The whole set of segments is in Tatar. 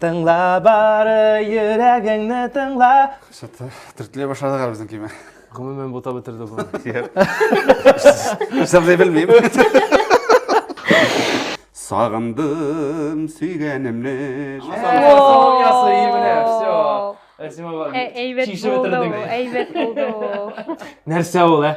Тыңла бары йөрәгеңне тыңла. Что-то төртлей башлады гал безнең киме. Гомумән бута бетерде бу. Исәпләй белмим. Сагындым сөйгәнемне. Сау ясы имне. Все. Әсима бар. Әйбәт булды. Әйбәт булды. Нәрсә ул, ә?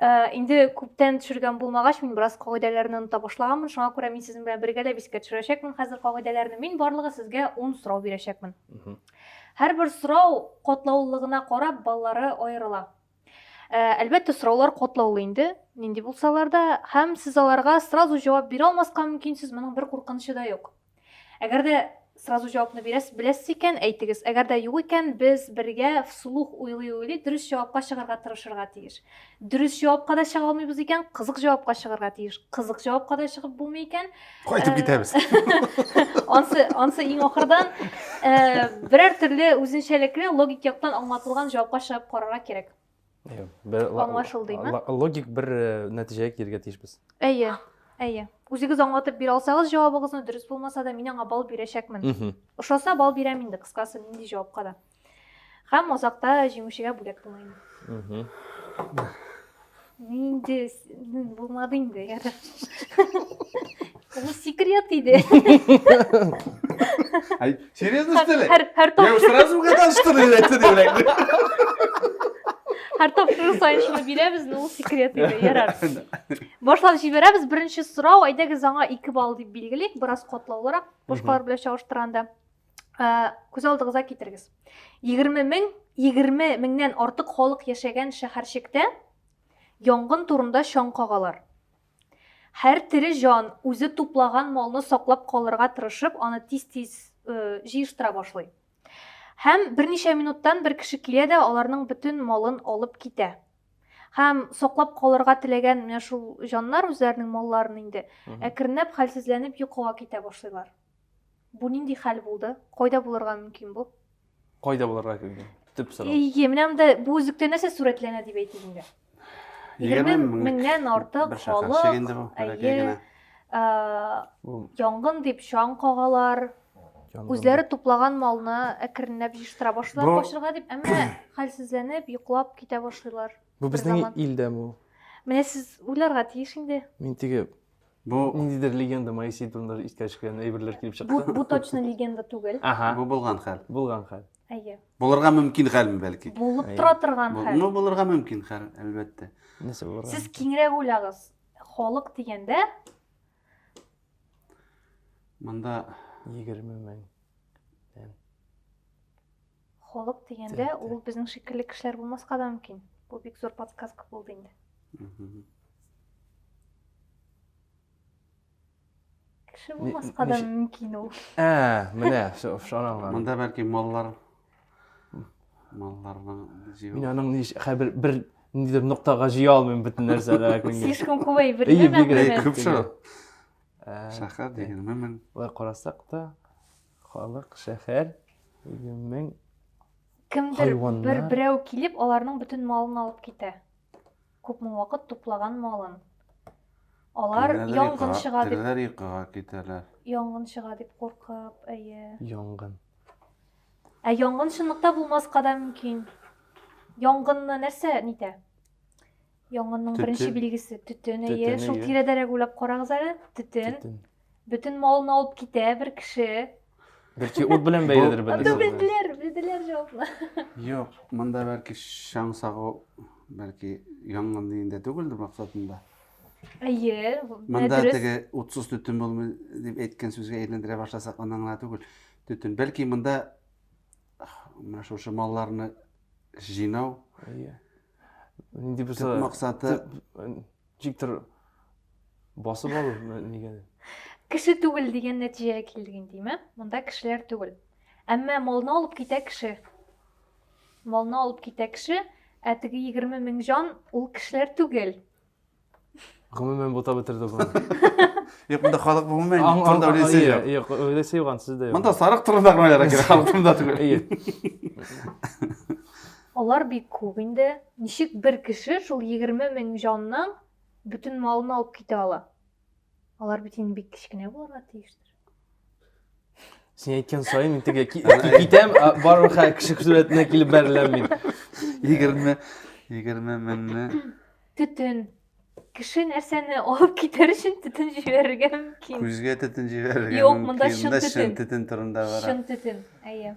Э, инде күптән төшергән булмагач мин бераз кагыйдәләрне оныта башлаганмын шуңа күрә мин сезнең белән бергәләп искә төшерәчәкмен хәзер кагыйдәләрне мин барлыгы сезгә ун сорау бирәчәкмен һәрбер сорау катлаулылыгына карап баллары аерыла э, әлбәттә сораулар катлаулы инде нинди булсалар да һәм сез аларга сразу җавап бирә алмаска мөмкинсез моның бер куркынычы да юк Әгәр дә сразу җавапны бирәсез, беләсез икән, әйтегез. Әгәр дә юк икән, без бергә вслух уйлый-уйлый дөрес җавапка чыгарга тырышырга тиеш. Дөрес җавапка да чыга алмыйбыз икән, кызык җавапка чыгарга тиеш. Кызык җавапка да чыгып булмый икән, кайтып э, китәбез. Ансы, ансы иң ахырдан э, берәр төрле үзенчәлекле логик яктан аңлатылган җавапка чыгып карарга кирәк. аңлашылдыймы логик бер э, нәтиҗәгә килергә тиешбез әйе әйе үзегез аңлатып бирә алсагыз җавабыгызны дөрес булмаса да мин аңа балл бирәчәкмен ошаса балл бирәм инде кыскасы нинди җавапка да һәм азакта җиңүчегә бүләк тыңлыйм нинди Булмады инде, ярар. Бу секрет иде. Ай, серьезно, что ли? Һәр һәр Я его тапшыру сразу угадал, что ли, это не блядь? һәр тапшыру саен шуны бирәбез, ну ул секрет иде, ярар. Башлап җибәрәбез. Беренче сорау, әйдәгез аңа 2 балл дип билгелик, бераз катлаулырак, башкалар белән чагыштырганда. Ә, Күз алдыгызга китерегез. 20 мең, 20 меңнән артык халык яшәгән шәһәрчектә Янгын турында чаң кагалар. Һәр тере җан үзе туплаган малны саклап калырга тырышып, аны тиз-тиз җыештыра башлый. Һәм берничә минуттан бер кеше килә дә аларның бөтен малын алып китә. Һәм саклап калырга теләгән менә шул җаннар үзләренең малларын инде әкренләп хәлсезләнеп йокыга китә башлыйлар. Бу нинди хәл булды? Кайда булырга мөмкин бу? Кайда булырга мөмкин? Төп сорау. Әйе, менә монда бу үзлектә нәрсә сурәтләнә дип әйтик инде? 20 меңнән артык халык. Әйе. Янгын дип чаң кагалар. Үзләре туплаган малны әкренләп җыштыра башлыйлар качырга дип, әмма хәлсезләнеп, йоклап китә башлыйлар. Бу безнең илдә бу. Менә сез уйларга тиеш инде. Мин теге Бу ниндидер легенда Моисей турында искә төшкән әйберләр килеп чыкты. Бу, бу точно легенда түгел. Ага. Бу булган хәл. Булган хәл. Әйе. Булырга мөмкин хәлме бәлки? Булып тора торган хәл. Ну, булырга мөмкин хәл, әлбәттә. Нәрсә булырга? Сез киңрәк уйлагыз. Халык дигәндә монда 20 мең. Холык дигәндә, ул безнең шикелле кешеләр булмаска да мөмкин. Бу бик зур подсказка булды инде. Кеше булмаска да мөмкин ул. Ә, менә шуның. Монда бәлки маллар малларның җыю. Мин аның ни хәбер бер ниндидер ноктага җыя алмыйм бөтен нәрсәне. Слишком күп әйбер. Әйе, бик күп шул. Шәһәр дигән мөмен. Болай карасак та, Халык, шәһәр, мең Кемдер бер берәү килеп, аларның бөтен малын алып китә. Күпме вакыт туплаган малын. Алар янгын чыга дип. Терләр йокыга китәләр. Янгын чыга дип куркып, әйе. Янгын. Ә янгын чынлыкта булмаска да мөмкин. Янгынны нәрсә нитә? Янгынның Төтен. беренче билгесе төтен. Әйе, Төтен, шул әйе. тирәдәрәк уйлап карагыз әле. Төтен. Төтен. Бөтен малны алып китә бер кеше. Бәлки ут белән бәйледер бу- Анда Анда бәлки. белделәр, белделәр җавапны. Юк, монда бәлки чаң сагу, бәлки янгын дигәндә түгелдер максатында. Әйе, менә Монда дөрес. теге утсыз төтен булмый дип әйткән сүзгә әйләндерә башласак, аннан гына түгел. Төтен. Бәлки монда менә шушы малларны җыйнау, Әйе. нинди булса төп максаты ничектер басып алу нигә кеше түгел дигән нәтиҗәгә килдек инде монда кешеләр түгел әмма малны алып китә кеше малны алып китә кеше ә теге егерме мең җан ул кешеләр түгел Гомумән бутап бетерде бу. Юк, монда халык гомумән турында беләсе юк. Юк, беләсе юк ансыз да юк. Монда сарык турында гына яра кирәк, халык турында түгел. Әйе. Алар бик күп инде. Ничек бер кеше шул 20 мең җанның бөтен малын алып китә ала? Алар бит инде бик кечкенә булырга тиештер. Син әйткән саен мин теге китәм, барлык хәл кеше сурәтенә килеп бәреләм мин. 20 20 меңне төтен кеше нәрсәне алып китәр өчен төтен җибәрергә мөмкин. Күзгә төтен җибәрергә мөмкин. Юк, монда чын төтен. Чын төтен турында бара. Чын төтен, әйе.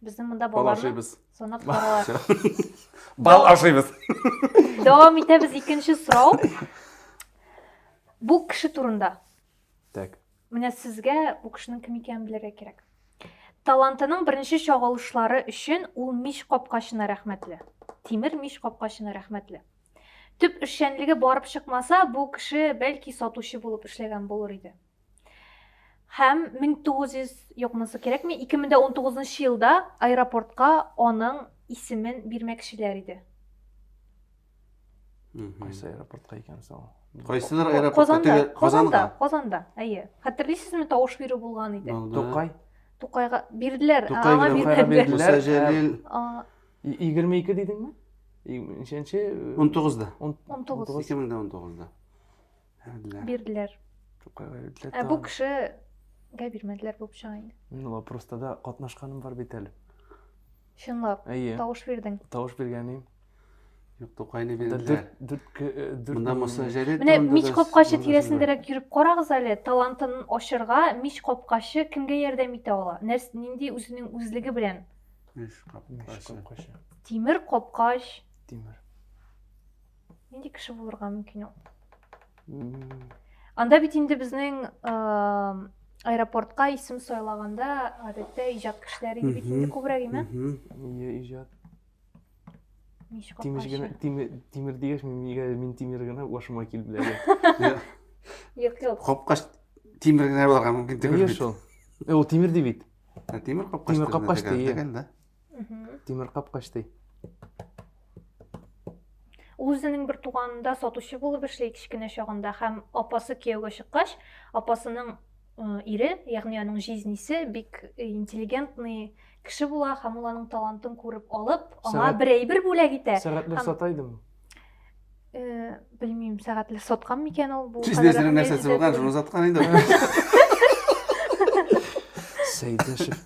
Безнең монда Бал балаларны ашыйбыз. санап баралар. Бал ашыйбыз. Дәвам итәбез икенче сорау. Бу кеше турында. Так. Менә сезгә бу кешенең кем икәнен белергә кирәк. Талантының беренче чагылышлары өчен ул мич капкачына рәхмәтле. Тимер мич капкачына рәхмәтле. Төп эшчәнлеге барып чыкмаса, бу кеше бәлки сатучы булып эшләгән булыр иде. Һәм 1900 юк монысы кирәкми, 2019 елда аэропортка аның исемен бирмәкчеләр иде. Кайсы аэропортка икән соң? Кайсыдыр аэропортка Казанда, Казанда, Казанда, әйе. Хәтерлисезме, тавыш бирү булган иде. Тукай. Тукайга бирделәр, аңа бирделәр. Муса Җәлил. 22 дидеңме? Ничәнче? 19да. 19. 2019да. Бирделәр. Бирделәр. Тукайга бирделәр. Ә бу кешегә бирмәделәр булып чыга инде. Ну, вопроста да катнашканым бар бит әле. Чынлап. Әйе. Тавыш бирдең. Тавыш биргәнем. Юк, Тукайны бирделәр. Монда мосажәре Менә мич капкачы тирәсендәрәк йөреп карагыз әле, талантын ачырга мич капкачы кемгә ярдәм итә ала? Нәрсә нинди үзенең үзлеге белән? Мич капкачы. Тимер капкач. Тимер. нинди кеше булырга мөмкин ул анда бит инде безнең аэропортка исем сайлаганда гадәттә иҗат кешеләре бит инде күбрәк име иә иҗат тимеш генә тимер дигәч мин тимер генә башыма килеп белә юк юк капкач тимер генә булырга мөмкин түгел бит шул ул тимер ди бит тимер капкач тимер капкач ди Тимер капкач ди. Ул үзенең бер туганында сатучы булып эшли кечкенә чагында һәм апасы кияүгә чыккач, апасының ире, ягъни аның җизнисе бик интеллигентный кеше була һәм ул аның талантын күреп алып, аңа бер әйбер бүләк итә. Сәгатьләр сата идеме? Э, белмим, сәгатьләр саткан микән ул бу? Җизнисенең нәрсәсе булган, шуны саткан инде. Сәйдәшев.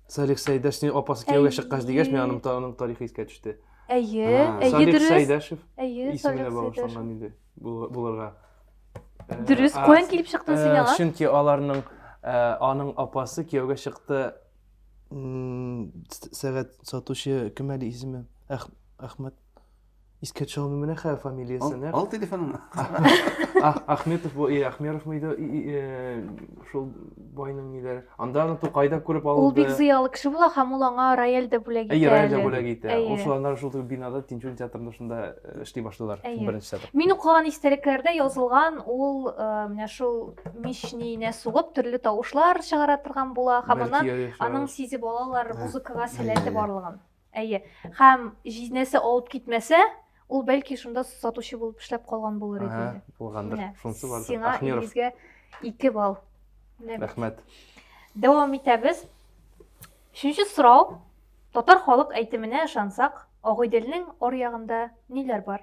Салих Сәйдәшнең апасы кияүгә чыккач дигәч, миңа аның, аның тарихы искә төште. Әйе, әйе, Салих дөрес. Сәйдәшев әйе, исеменә багышланган инде булырга. Э, дөрес, каян килеп чыктың э, син аңа? Чөнки аларның э, аның апасы кияүгә чыкты сәгать сатучы кем әле исеме? Әхмәт Искә төшә алмыйм менә хәзер фамилиясен. Ал, ал телефонын. Ахметов бу, и Ахмеров мыйды? Э, шул байның ниләре. Анда аны Тукайда күреп алды. Ул бик зыялы кеше була һәм ул аңа рояль дә бүләк итә. Әйе, рояль дә бүләк итә. Ул шуларны шул бинада Тинчурин театрында шунда э, эшли башлыйлар. Беренче театр. Мин укыган истәлекләрдә язылган ул э, менә шул мичниенә сугып төрле тавышлар чыгара торган була һәм аннан аның сизеп алалар музыкага сәләте барлыгын. Әйе. Һәм җизнәсе алып китмәсә, ул бәлки шунда сатучы булып эшләп калган булыр иде. Ага, булгандыр. Шунсы бар. Сиңа Илгизгә 2 балл. Рәхмәт. Дәвам итәбез. Өченче сорау. Татар халык әйтеменә ышансак, Агыйделнең ор ягында ниләр бар?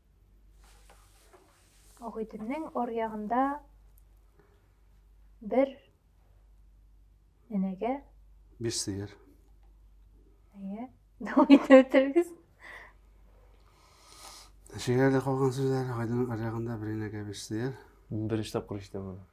Агыйдемнең аръягында бер энәгә биш сыер. Әйе. Дәвам итеп үтерегез. Шигәрдә калган сүзләр Агыйдемнең аръягында бер энәгә биш сыер. Беренче тапкыр ишетәм аны.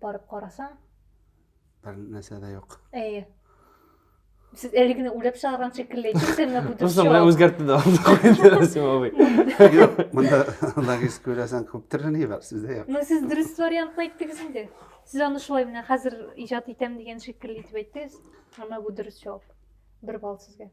Барып карасаң. Бер нәрсә дә юк. Әйе. Сез әле генә уйлап чыгарган шикелле әйттегезме бу дөрес Просто менә үзгәртте дә Расим абый. Юк, монда логистика уйласаң күп төрле ни бар, сездә юк. Ну сез дөрес вариантны әйттегез инде. Сез аны шулай менә хәзер иҗат итәм дигән шикелле итеп әйттегез. Әмма бу дөрес җавап. Бер балл сезгә.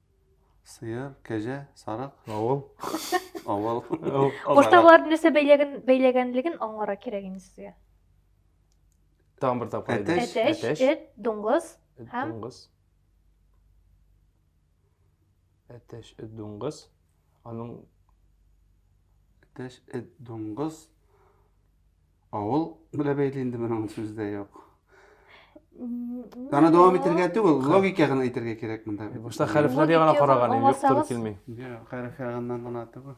Сыер, кәҗә, сарык. Авыл. Авыл. Куртаулар нәрсә бәйләген бәйләгәнлеген аңлара кирәк инде сезгә. Тагын бер тапкыр әйтегез. Әтәч, әтәч, эт, дуңгыз һәм дуңгыз. Әтәч, эт, дуңгыз. Аның иптәш эт, дуңгыз, авыл белә бәйле инде моның сүз дә юк. Аны дәвам итергә түгел, логика гына әйтергә кирәк монда. Башта хәрефләр ягына караган идем, юк туры килми. Юк, хәреф ягыннан гына түгел.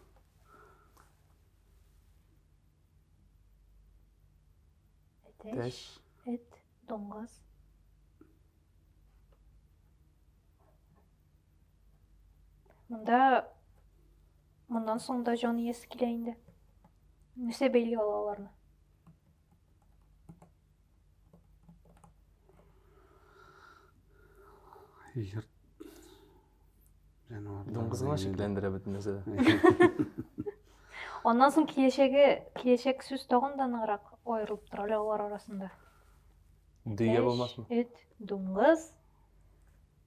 Тәш, эт, доңгыз. Монда моннан соң да җан иясе килә инде. Нәрсә бәйли ала аларны? Җыр жануарлар. Дуңгызга шикләндерә бит нәрсә. Аннан соң киләчәге, киләчәк сүз тагын да ныграк аерылып тора алар арасында. Дөя булмасмы? Эт, дуңгыз.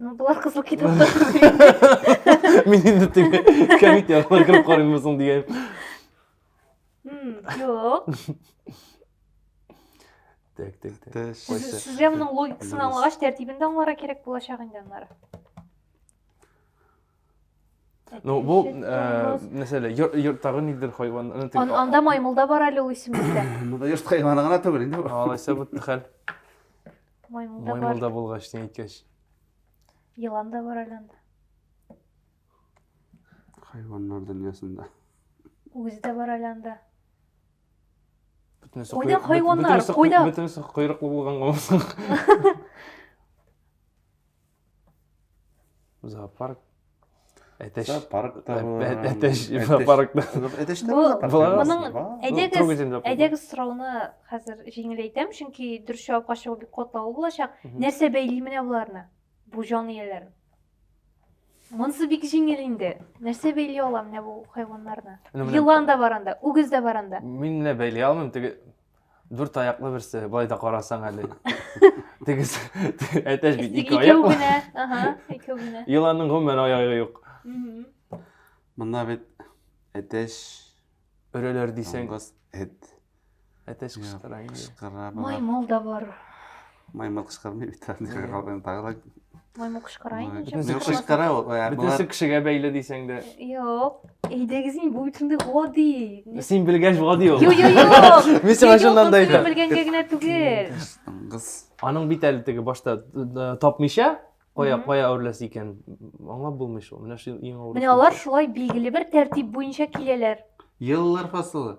Ну, болар кызыл китапта. Мин инде теге кәмит яклар кереп карыйммы соң дигән. Юк. Так, так, так. Сезгә моның логикасын аңлагач, тәртибен дә аңларга кирәк булачак инде аннары. Ну, бу, э, мәсәлә, йорттагы нидер хайван. Анда маймылда бар әле ул исемлектә. Монда йорт хайваны гына түгел инде. Алайса бу хәл. Маймылда бар. Маймылда булгач, син әйткәч. Елан да бар әле анда. Хайваннар дөньясында. Үзе дә бар әле анда. Бөтенесе Кайда хайваннар? Кайда? Бөтенесе койрыклы булган гомсың. Зоопарк Әтәш. Зоопаркта булган. Әтәш зоопаркта. Әтәш тә зоопарк. Моның әйдәгез, әйдәгез сорауны хәзер җиңеләйтәм, чөнки дөрес җавапка чыгу бик катлаулы булачак. Нәрсә бәйли менә боларны? Бу җан ияләрен. Монсы бик җиңел инде. Нәрсә бәйли ала менә бу хайваннарны? Елан да бар анда, үгез дә бар анда. Мин менә бәйли алмыйм, теге Дүрт аяклы берсе, былай да карасаң әле. Тегез, әтәч бит ике аяк. Икәү генә, ага, икәү генә. Еланның гомумән аягы юк. Монда бит әтәч өрәләр дисәң. Эт. Әтәч кычкыра. Маймыл да бар. Маймыл кычкырмый бит, нигә калган тагы да. Маймыл кычкыра инде. Бөтенесе кычкыра ул. Бөтенесе кешегә бәйле дисәң дә. Юк. Әйдәгез инде, бу бит шундый гади. Син белгәч гади ул. Юк, юк, юк. Мин сиңа чыннан да әйтәм. Белгәнгә генә түгел. Кыз. Аның бит әле теге башта тапмыйча, кая кая үрләс икән. Аңлап булмый шул. Менә шул иң авыр. Менә алар шулай билгеле бер тәртип буенча киләләр. Еллар фасылы.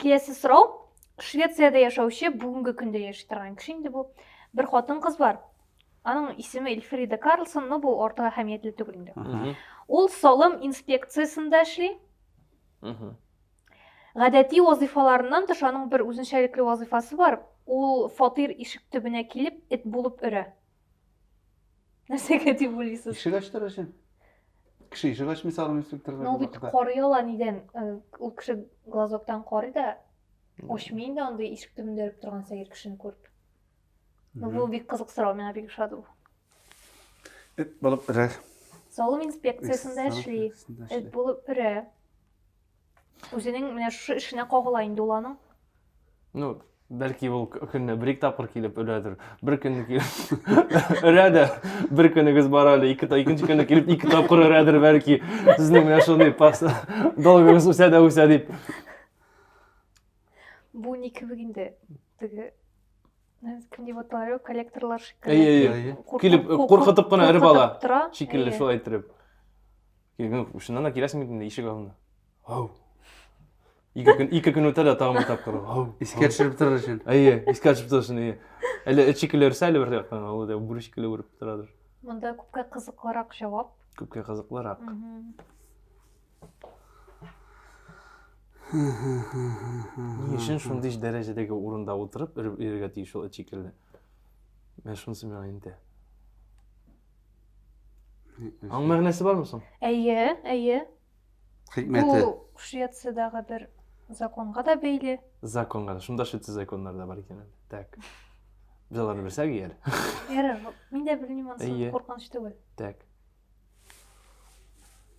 киләсе сорау швецияда яшәүче бүгенге көндә яши торган кеше инде бу бер хатын кыз бар аның исеме эльфрида карлсон но бу артык әһәмиятле түгел инде ул салым инспекциясендә эшли гадәти вазыйфаларыннан тыш аның бер үзенчәлекле вазыйфасы бар ул фатир ишек төбенә килеп эт булып өрә нәрсеге дип уйлыйсыз ишек ачтыру өчен кеше ишек ачмый салым инспекторлар ну бит карый ала нидән ул э, кеше глазоктан карый да ачмый инде андый ишек төбендә өреп торган сәер кешене күреп ну бу бик кызык сорау миңа бик ошады бу эт булып өрә салым инспекциясендә эшли эт булып өрә Үзенең менә шушы эшенә кагыла инде ул аның. Ну, бәлки ул көнне бер ике тапкыр килеп өрәдер. Бер көнне килеп өрә дә, бер көнегез бар әле, ике та икенче көнне килеп ике тапкыр өрәдер бәлки. Сезнең менә шундый пас долгыгыз үсә дә үсә дип. Бу ни кебек инде? Теге кем дип аталар, коллекторлар шикелле. Әйе, әйе. Килеп куркытып кына өреп ала. Шикелле шулай итеп. Мин шуннан да киләсем инде ишек алдына. Ау. Ике көн, ике көн үтә дә тагын бер тапкыр. Ау. Искә төшереп торыр өчен. Әйе, искә төшереп торыр өчен, әйе. Әле эт шикелле өрсә, әле бер яктан, ул да бүре шикелле үреп торадыр. Монда күпкә кызыклырак җавап. Күпкә кызыклырак. Ни өчен шундый дәрәҗәдәге урында утырып өрергә тиеш ул эт шикелле? Менә шунысы миңа инде. Аның мәгънәсе бармы соң? Әйе, әйе. Хикмәте. Бу Швециядәге бер законга да бәйле. Законга да. Шунда Швеция законнары да бар икән. Так. Без аларны белсәк ияр. Ярар, мин дә белмим, ансы куркыныч түгел. Так.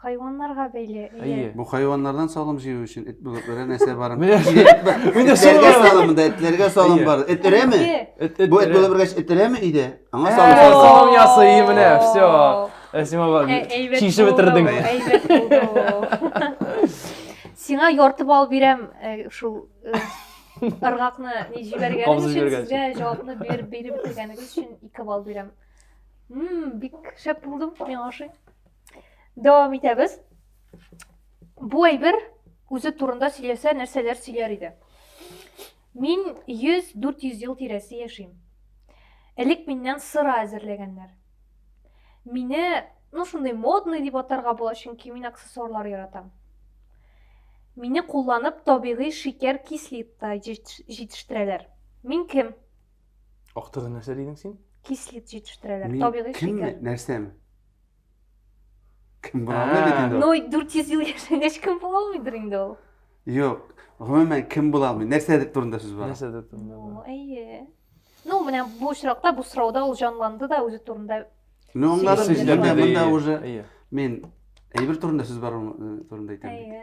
Хайваннарга бәйле. Әйе. Бу хайваннардан салым җыю өчен эт булып берәр нәрсә бар. Менә шулай салым монда этләргә салым бар. Эт өрәме? Бу эт булып бергәч эт өрәме иде? Аңа салым бар. Салым ясый менә, все. Әсима бар. Чишеп бетердең. Әйбәт булды. Сиңа ярты балл бирәм шул ыргакны ни җибәргәнең өчен сезгә җавапны биреп биреп бетергәнегез өчен 2 балл бирәм. Мм, бик шәп булдым, миңа ошый. дәвам итәбез бу әйбер үзе турында сөйләсә нәрсәләр сөйләр иде мин 100-400 ел тирәсе яшим элек миннән сыра әзерләгәннәр мине ну шундый модный дип атарга була чөнки мин аксессуарлар яратам мине кулланып табигый шикәр кислита җитештерәләр мин кем актыгы нәрсә дидең син кислит җитештерәләр табигый шикәр кемме нәрсәме Кем була алмый бит инде. Ну, 400 ел яшәгәч кем була алмыйдыр инде ул? Юк. Гомумән кем була алмый? Нәрсәдер турында сүз бара. Нәрсәдер турында. Әйе. Ну, менә бу очракта бу сорауда ул җанланды да үзе турында. Ну, аңлады сезгә дә монда уже. Мин әйбер турында сүз бар э, турында әйтәм. Әйе.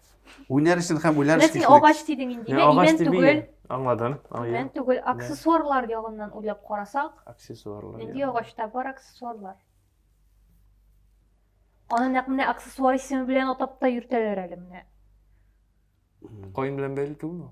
Уйнар өчен һәм уйлар Менә өчен син агач дидең инде. Менә имән түгел. Аңладым. Имән түгел. Аксессуарлар ягыннан уйлап карасак. Аксессуарлар. Нинди агачта бар аксессуарлар? Аны нәкъ менә аксессуар исеме белән атап та йөртәләр әле менә. Каен белән бәйле түгелме?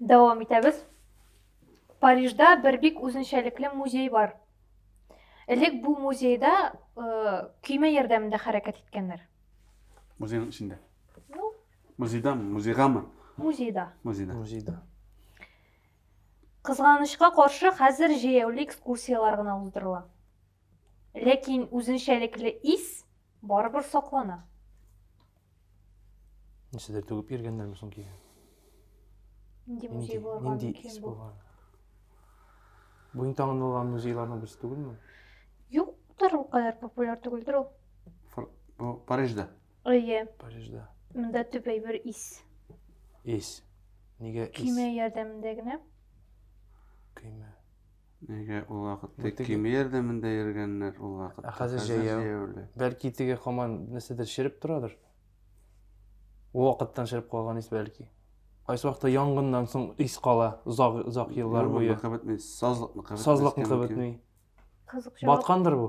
Дәвам итәбез. Парижда бер бик үзенчәлекле музей бар. Элек бу музейда э, көймә ярдәмендә хәрәкәт иткәннәр. Музейның эчендә. Ну, Музейда, музейгамы? музейда. Музейда. Музейда. Кызганычка каршы, хәзер җәяүле экскурсияләр генә уздырыла. Ләкин үзенчәлекле ис барыбер саклана. Нәрсәдер түгеп йөргәннәрме соң кигән? Нинди музей булырга нинди мөмкин ис бу? булган? Бу иң танылган музейларның берсе түгелме? Юктыр, ул кадәр популяр түгелдер ул. Фр- Бу Парижда. Әйе, Парижда. монда төп әйбер ис. Ис. Нигә ис? Көймә ярдәмендә генә. Көймә. Нигә ул вакытта Бу теге- кимиердә монда йөргәннәр ул вакытта? Ә хәзер җәяү. җәяүле. Бәлки теге хаман нәрсәдер череп торадыр. Ул вакыттан череп калган ис бәлки. Кайсы вакытта янгыннан соң ис кала озак озак еллар буе. Юлларныкы бетми, сазлыкныкы бетмәскә Сазлыкныкы мөмкин. бетми. Кызык җавап. Баткандыр бу.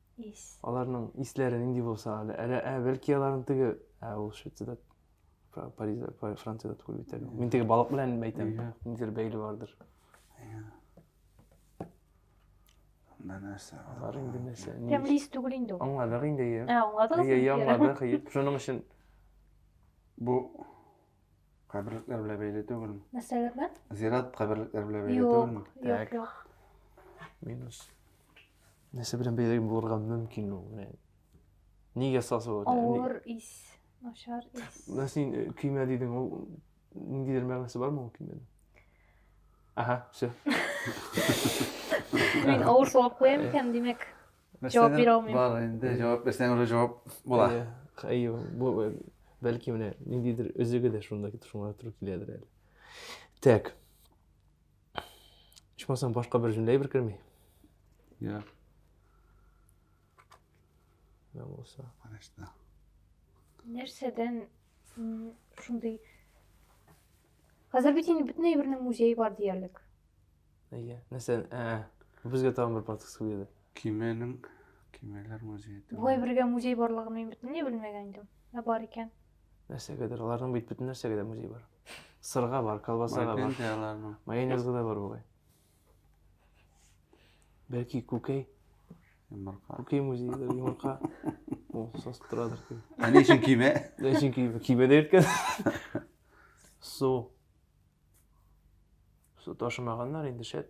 Ис. Аларның исләре нинди булса, әле, әле, ә, бәлки аларның теге, ә, ул Швециядә, Фра- Паризда, Фра- Франциядә түгел бит әле. Мин теге балык белән әйтәм, Иә. ниндидер бәйле бардыр. Анда нәрсә бар? Бар инде нәрсә. ни- Тәмле ис түгел инде ул. Аңладык инде, иә. Ә, аңладыгыз Иә, иә, аңладык, иә. Шуның өчен Бу каберлекләр белән бәйле түгелме? Нәрсәләр белән? Зират каберлекләр белән бәйле Юк, түгелме? юк, Так. юк. минус. нәрсә белән бәйле булырга мөмкин ул менә нигә сасу авыр ис начар ис менә син э, көймә дидең ул ниндидер мәгънәсе бармы ул көймәнең аха все мин авыр сорап куям икән демәк жауап бирә алмыйм бар инде жауап берсенә уже жауап була әйе бу э, бәлки менә ниндидер өзеге дә шунда шуңа туры киләдер әле так Ичмасам башка бер җөмлә әйбер керми. Я. Я булса. Конечно. Нәрсәдән шундый Хәзер бит инде бөтен әйбернең музее бар диярлек. Әйе. Нәрсә? Ә, безгә тагын бер подкаст килде. Кименең кименләр музее. Бу әйбергә музей барлыгын мин бөтенләй белмәгән идем. Ә бар икән. Нәрсәгәдер, аларның бит бөтен нәрсәгә дә музей бар. Сырга бар, колбасага бар. Майпен аларның. Майонезга да бар бугай. Бәлки күкәй. Йомырка. Күкәй музейдә йомырка. Ул сас торадыр. Ә ни өчен кибә? Ни өчен кибә? Кибә дә иркә. Су. Су ташымаганнар инде шәт.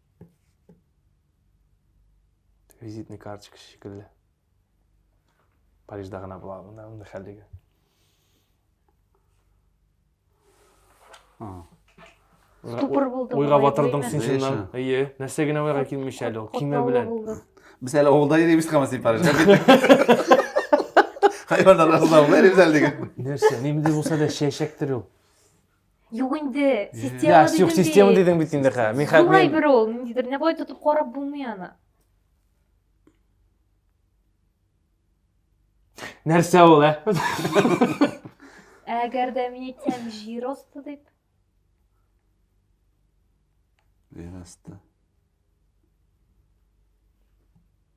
Визитный карточка шикелле. Парижда гына була монда мондый хәллеге. Ступор булды. Уйга батырдың син шуннан. Әйе, нәрсә генә уйга килмичә әле ул кимә белән. Без әле авылда йөрибез кама син Парижда. Хайваннар арасында авылда йөрибез әле диген. Нәрсә, ниндидер булса да чәчәктер ул. Юк инде, система дидем бит. Юк, система дидем бит инде ха. Мин хәзер Югай бер ул, ниндидер. Менә болай тотып карап булмый аны. Нәрсә ул, ә? Әгәр дә мин әйтсәм җир асты дип. Җир асты.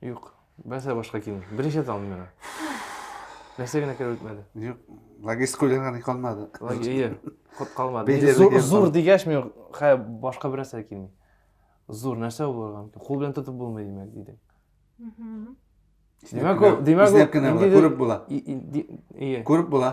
Юк. Бәсә башка килми. Беренче тан миңа. Нәрсә генә кереп үтмәде. Юк. Логистика уйларга ни калмады. Логия. Ход калмады. Бәйләр Зур, дигән зур тан. дигәч мин хә башка бер нәрсә килми. Зур нәрсә ул булган? Кул белән тотып булмый димәк диде. Димәк ул, димәк ул. Иснәп кенә була, күреп була. Ие. Күреп була.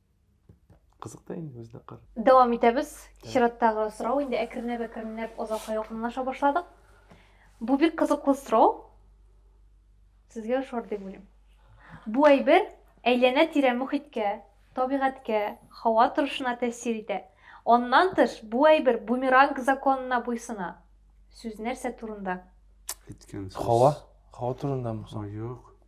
Кызык та инде бездә кыр. Дәвам итәбез. Чираттагы сорау инде әкренләп әкренләп озакка якынлаша башладык. Бу бик кызыклы сорау. Сезгә ошар дип уйлыйм. Бу әйбер әйләнә-тирә мөхиткә, табигатькә, һава торышына тәэсир итә. Аннан тыш, бу әйбер бумеранг законына буйсына. Сүз нәрсә турында? Әйткән сүз. Һава? Һава турындамы? Юк.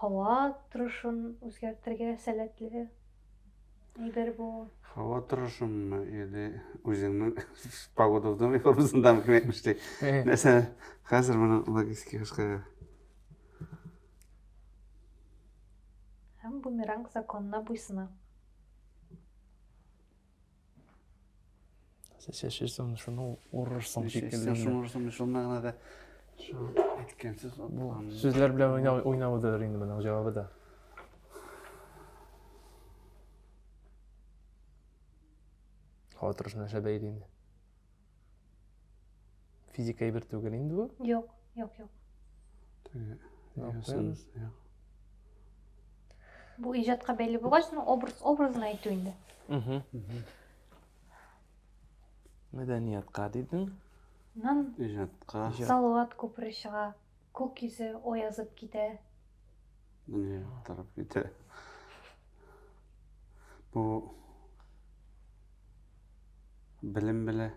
Һава торышын үзгәртергә сәләтле әйбер бу. Һава торышынмы, или үзеңнең погода в доме формасындамы кем әйтмеш ди. Нәрсә, хәзер моның логистика башка. Һәм бумеранг законына буйсына. Сез чәчерсең, шуны урырсың шикелле. Шуны урырсың, шул мәгънәдә шул әйткән сүз булган. Сүзләр белән уйнау уйнаудыр инде моның җавабы да. Хатырышына шәбәйли инде. Физика әйбер түгел инде бу. Юк, юк, юк. Бу иҗатка бәйле булгач, ну образ образын әйтү инде. Угу. Мәдәниятка дидең. Нан. Иҗатка. Салават күпере чыга. Күк йөзе оязып китә. Дөнья яктырып китә. Бу белем белә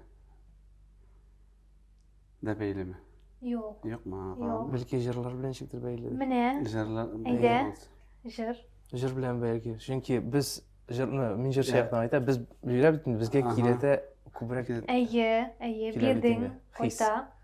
дә бәйлеме? Юк. Юкмы? Юк. Бәлки җырлар белән ничектер бәйле. Менә. Җырлар. Әйдә. Җыр. Җыр белән бәлки. Чөнки без җырны мин җырчы яктан айтам, без бирә бит безгә кирәтә күбрәк. Әйе, әйе, бирдең, кайта.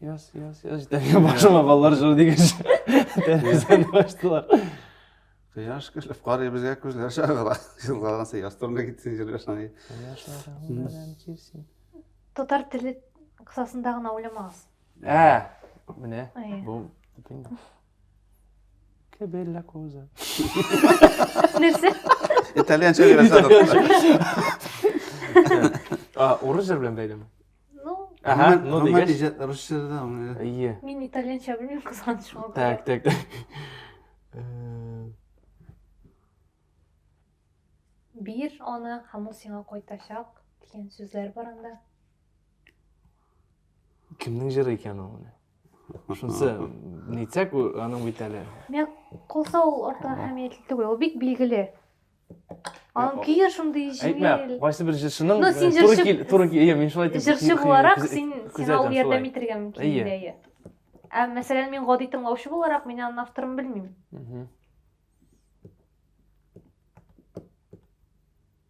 Яс, яс, яс, җитәгә башыма баллар жыр дигәч, тәрәзәне ачтылар. Кояш көлеп карый безгә күзләр чагыла. Елгалганса яс турында китсен җырга шанай. Татар теле кысасында гына уйламагыз. Ә, менә. Бу Che bella cosa. Нәрсә? Итальян чәй Урыс җыр белән бәйлеме? Ну. Ага, ну дигәч. Рус җырдан. Ие. Мин итальянча белмим, кызганыч шуңа. Так, так, так. Бир аны һәм ул сиңа кайтачак дигән сүзләр бар анда. кемнең җыры икән ул менә шунысы нитсәк аның бит әле миңа калса ул артык әһәмиятле түгел ул бик билгеле аның көе шундый җиңел әйтмә кайсы бер җырчының ну син җырчы туры кил мин шулай дип җырчы буларак син сиңа ул ярдәм итәргә мөмкин инде әйе ә мәсәлән мин гади тыңлаучы буларак мин аның авторын белмим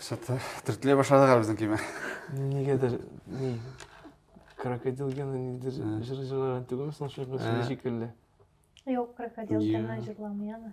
Что-то төртлей башладык әле безнең көймә. Нигәдер, ни, крокодил гена нидер җыр җырлаган түгелме соң шул кыз шикелле? Юк, крокодил гена җырламый аны.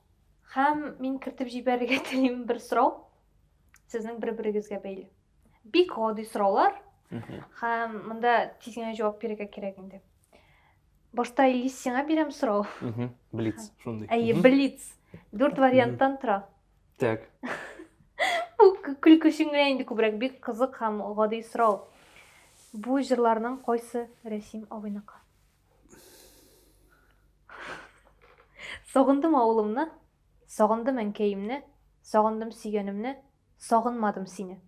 Һәм мин кертеп җибәрергә телим бер сорау. Сезнең бер-берегезгә бәйле. Бик гади сораулар. Һәм монда тиз генә җавап бирергә кирәк инде. Башта Илис сиңа бирәм сорау. Блиц, шундый. Әйе, блиц. Дүрт варианттан тора. Так. Бу көлке өчен генә инде күбрәк бик кызык һәм гади сорау. Бу җырларның кайсы Рәсим абыйныкы? Сагындым авылымны, сагындым әнкәемне, сагындым сөйгәнемне, сагынмадым сине.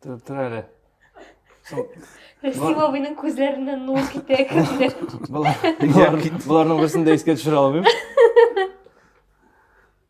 Тор, тор әле. Шул- Рәсим абыйның күзләреннән нур китә кемдер. Болар, болар, боларның берсен дә искә төшерә алмыйм.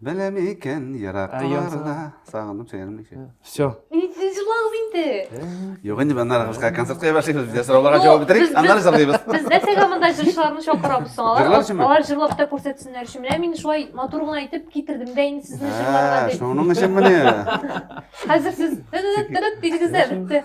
Беләм икән еракларда. Сагындым сәерем ничә. Все. Нидән җылагыз инде? Юк инде моннан ары кызга концерт куя башлыйбыз. Бездә сорауларга Ну, җавап бетерик, без- аннары без- җырлыйбыз. Без нәрсәгә монда җырчыларны чакырабыз соң? Алар, Җырлар өченме? алар җырлап та күрсәтсеннәр өчен. Менә мин шулай матур гына итеп китердем дә инде сезне җырларга Ә, дип. шуның өчен менә. Хәзер сез тырыт-тырыт дидегез дә бетте.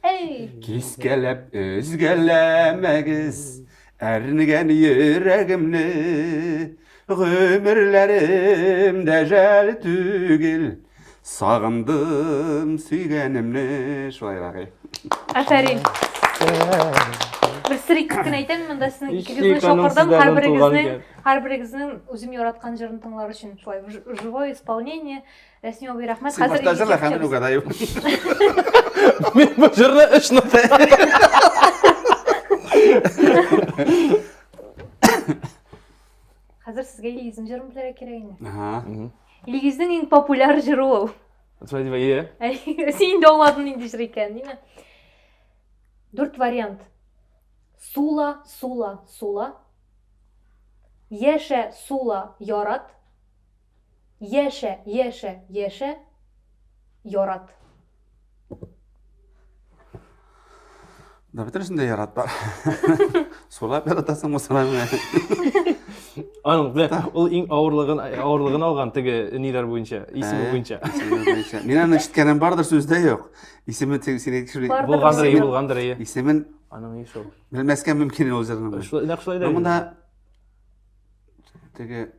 Әй! Кискәләп өзгәләмәгез әрнегән йөрәгемне, гомерләрем дә жәл түгел, сагындым сөйгәнемне. Шулайрак, әй. Афәрин. Бер сер итеп кенә әйтәм, монда сезнең икегезне чакырдым, һәрберегезнең, һәрберегезнең үзем яраткан җырын тыңлар өчен шулай живое исполнение. Рәсми абый, рәхмәт. Син башта җырла, хәзер мин угадаю. Мин бу җырны өч нота. Хәзер сезгә Илгизнең җырын белергә кирәк инде. Ага. Илгизнең иң популяр җыры ул. Шулай дип әйе. Син инде аңладың нинди җыр икәнен, димме? Дүрт вариант. Сула, сула, сула. Яшә, сула, ярат. Яшә, яшә, яшә, ярат. Да бөтенесен дә ярат бар. Сулап яратасың бу сарайны. Аның белә, ул иң авырлыгын авырлыгын алган теге ниләр буенча, исеме Ә. буенча. Исеме буенча. Мин аны ишеткәнем бардыр, сүздә юк. Исеме тиз- сине тикшерми. Бар. Булгандыр, ие, булгандыр, ие. Исемен Аның ише ул. белмәскә мөмкин ул җырның. Шулай, нәкъ шулай да. Монда Теге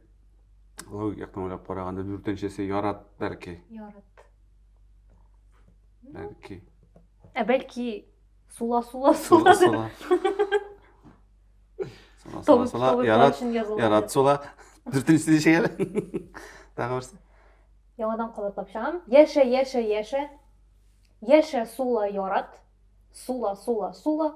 логик яктан уйлап караганда дүртенчесе ярат бәлки. Ярат. Бәлки. Ә бәлки сула сула сула. Сула сула. Сула ярат ярат сула. Дүртенчесе ничек әле? Тагы берсе. Яңадан кабатлап чыгам. Яшә яшә яшә. Яшә сула ярат. Сула сула сула.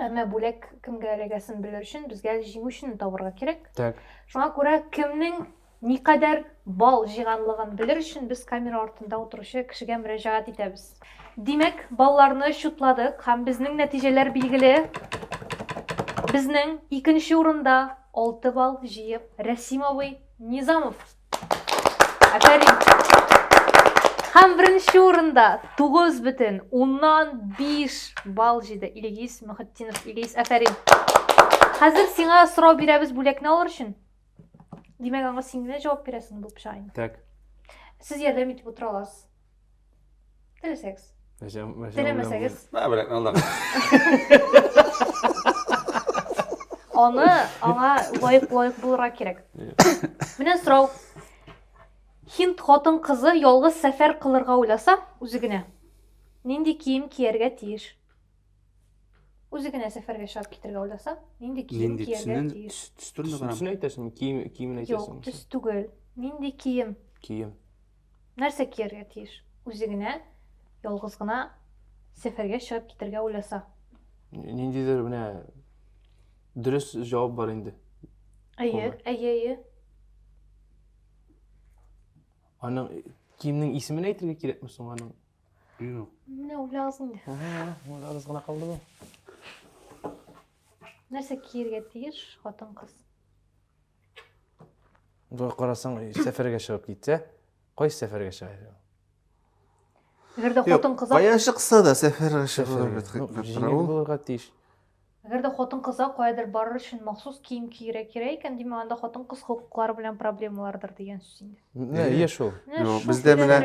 әмма бүләк кемгә эләгәсен белер өчен безгә җиңүчене табырга кирәк так шуңа күрә кемнең никадәр бал җыйганлыгын белер өчен без камера артында утыручы кешегә мөрәҗәгать итәбез димәк балларны счетладык һәм безнең нәтиҗәләр билгеле безнең икенче урында алты балл җыеп рәсим абый низамов Афәрин! Һәм беренче урында 9 бөтен уннан 5 балл җиде Ильгиз Мөхетдинов. Ильгиз, афәрин. Хәзер сиңа сорау бирәбез бүләкне алыр өчен. Димәк, аңа син генә җавап бирәсең бу пычагын. Так. Сез ярдәм итеп утыра аласыз. Теләсәгез. Теләмәсәгез. Мә, беләк, алдак. Аны аңа лайык лайык булырга кирәк. Менә сорау. Хинд хатын кызы ялгыз сәфәр кылырга уйласа, үзе генә нинди кием кияргә тиеш? Үзе генә сәфәргә чыгып китергә уйласа, нинди кием кияргә тиеш? Төс түгел. Нинди кием? Кием. Нәрсә кияргә тиеш? Үзе генә, ялгыз гына сәфәргә чыгып китәргә уйласа. Ниндидер менә дөрес җавап бар инде. Әйе, әйе, әйе. Аның киемнең исемен әйтергә кирәкме соң аның? Юк. Менә уйлагыз инде. Уйлагыз гына калды бу. Нәрсә киергә тиеш хатын-кыз? Бер карасаң, сәфәргә чыгып китсә, кайсы сәфәргә чыга? Әгәр дә хатын кыза Кая чыкса да сәфәргә чыгуга бит хикмәт тора ул. Булырга тиеш. Әгәр дә хатын кыза каядыр барыр өчен махсус кием киерә кирәк икән, димәк, анда хатын кыз хокуклары белән проблемалардыр дигән сүз инде. Менә ие шул. Бездә менә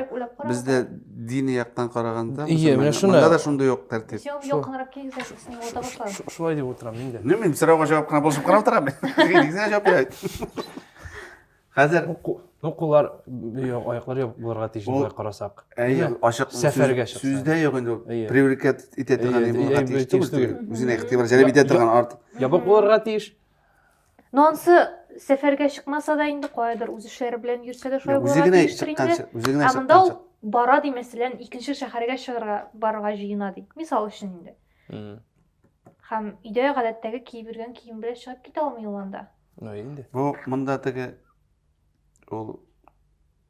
бездә дини яктан караганда, ие, менә шуны. Монда да шундый ук тәртип. Җавап якынрак килгән кешене уйга башлар. Шулай дип утырам мин дә. Нәмим сорауга җавап кына булып карап торам. Дигезгә җавап бирә. Хәзер ну куллар, аяклар ябык булырга тиеш дип алай карасак. Әйе, ачык сәфәргә чыкса. Сүздә юк инде ул. Привлекать итә торган булырга тиеш түгел. Үзенә игътибар җәлеп итә торган арт. Ябык булырга тиеш. Ну ансы сәфәргә чыкмаса да инде каядыр үз эшләре белән йөрсә дә шулай Үзе генә чыкканчы, үзе генә чыкканчы. Ә монда бара ди, мәсәлән, икенче шәһәргә чыгарга барырга җыена ди. Мисал өчен инде. Һәм өйдә гадәттәге киеп йөргән кием белән чыгып китә алмый ул анда. Ну инде. Бу монда теге ул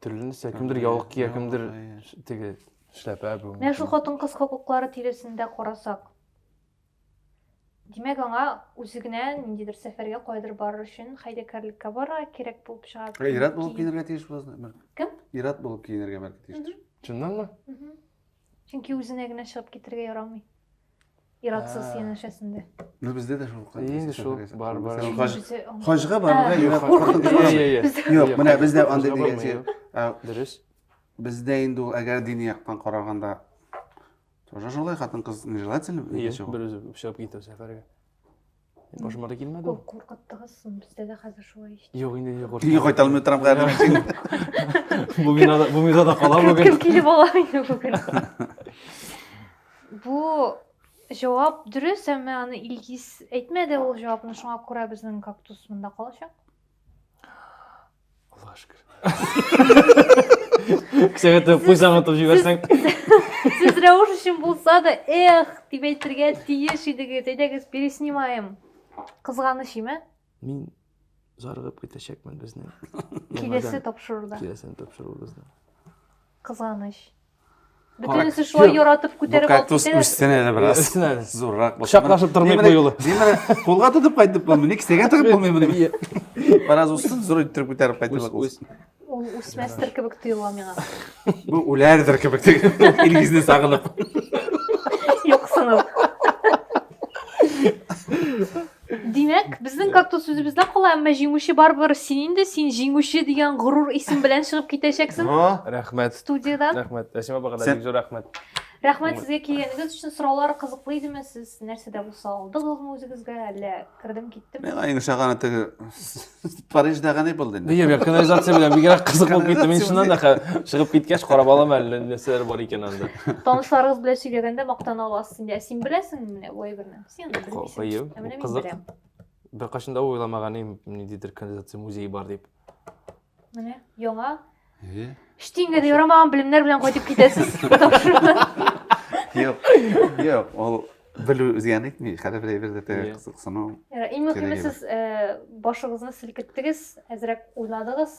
төрлесе кемдер яулык кия кемдер теге эшләпә бүгенге менә шул хатын кыз хокуклары тирәсендә карасак димәк аңа үзе генә ниндидер сәфәргә кайдыр барыр өчен хәйләкәрлеккә барырга кирәк булып чыга ә ир-ат булып киенергә тиеш буласың кем ир-ат булып киенергә бәлки тиештер чыннанмы Чөнки үзенә генә чыгып китергә ярамый. Иратсыз янәшәсендә. Ну бездә дә шул кай. Инде шул бар бар. Хаҗга барырга ират куркытып. Юк, менә бездә андый дигән. Дөрес. Бездә инде ул әгәр дини яктан караганда тоже шулай хатын-кыз нежелательно. Берүзе чыгып китә сәфәргә. Башыма да килмәде ул. Куркыттыгыз соң, бездә дә хәзер шулай ич. Юк, инде не коркам. Өйгә кайта алмый торам хәзер мин. Бу минада, бу минада кала бүген. Кем килеп ала инде бүген? Бу җавап дөрес, әмма аны Илгиз әйтмәде ул җавапны, шуңа күрә безнең кактус монда калачак. Аллаһ шөкер. Кешегә тә пусть аңлатып җибәрсәң. Сез рәвеш өчен булса да, эх, дип әйтергә тиеш идегез. Әйдәгез, переснимаем. Кызганыч име? Мин зарыгып китәчәкмен безне. Киләсе тапшыруда. Киләсе тапшыруда. Кызганыч. Бөтенесе шулай Юк. яратып күтәреп алып Кактус китәләр. үссен әле бераз. Өстен әле. Зуррак булсын. Кочаклашып тормыйк Мин бу менә- юлы. Мин менә кулга тотып кайтып булмый, ни кесәгә тыгып булмый моны. Бераз үссен, зур иттереп күтәреп кайтып Үс, үс. Ул үсмәстер кебек тоела миңа. Бу үләрдер кебек теге Илгизне сагынып. Юксынып. Димәк, безнең кактус үзебездә кала, әмма җиңүче барыбер син инде, син җиңүче дигән горур исем белән чыгып китәчәксең Рәхмәт. студиядән. Рәхмәт. Әсим апага да Сәп- бик зур рәхмәт. Рәхмәт сезгә килгәнегез өчен. Сораулар кызыклы идеме? Сез нәрсә дә булса алдыгызмы үзегезгә, әллә кердем киттем? Миңа иң шаганы теге Париждагы ни булды инде? Нигә бер канализация белән бигрәк кызык булып китте. Мин чыннан да хә- чыгып киткәч карап алам әле нәрсәләр бар икән анда. Танышларыгыз белән сөйләгәндә мактана аласыз инде. Ә син беләсеңме менә бу әйберне? кызык беркайчан да уйламаган идем ниндидер канализация музей бар дип менә яңа штиңгә дә ярамаган белемнәр белән кайтып китәсез юк юк ул белү үзгәне әйтми хәле бер әйбер дә кызыксыну иң мөһиме сез башыгызны селкеттегез әзрәк уйладыгыз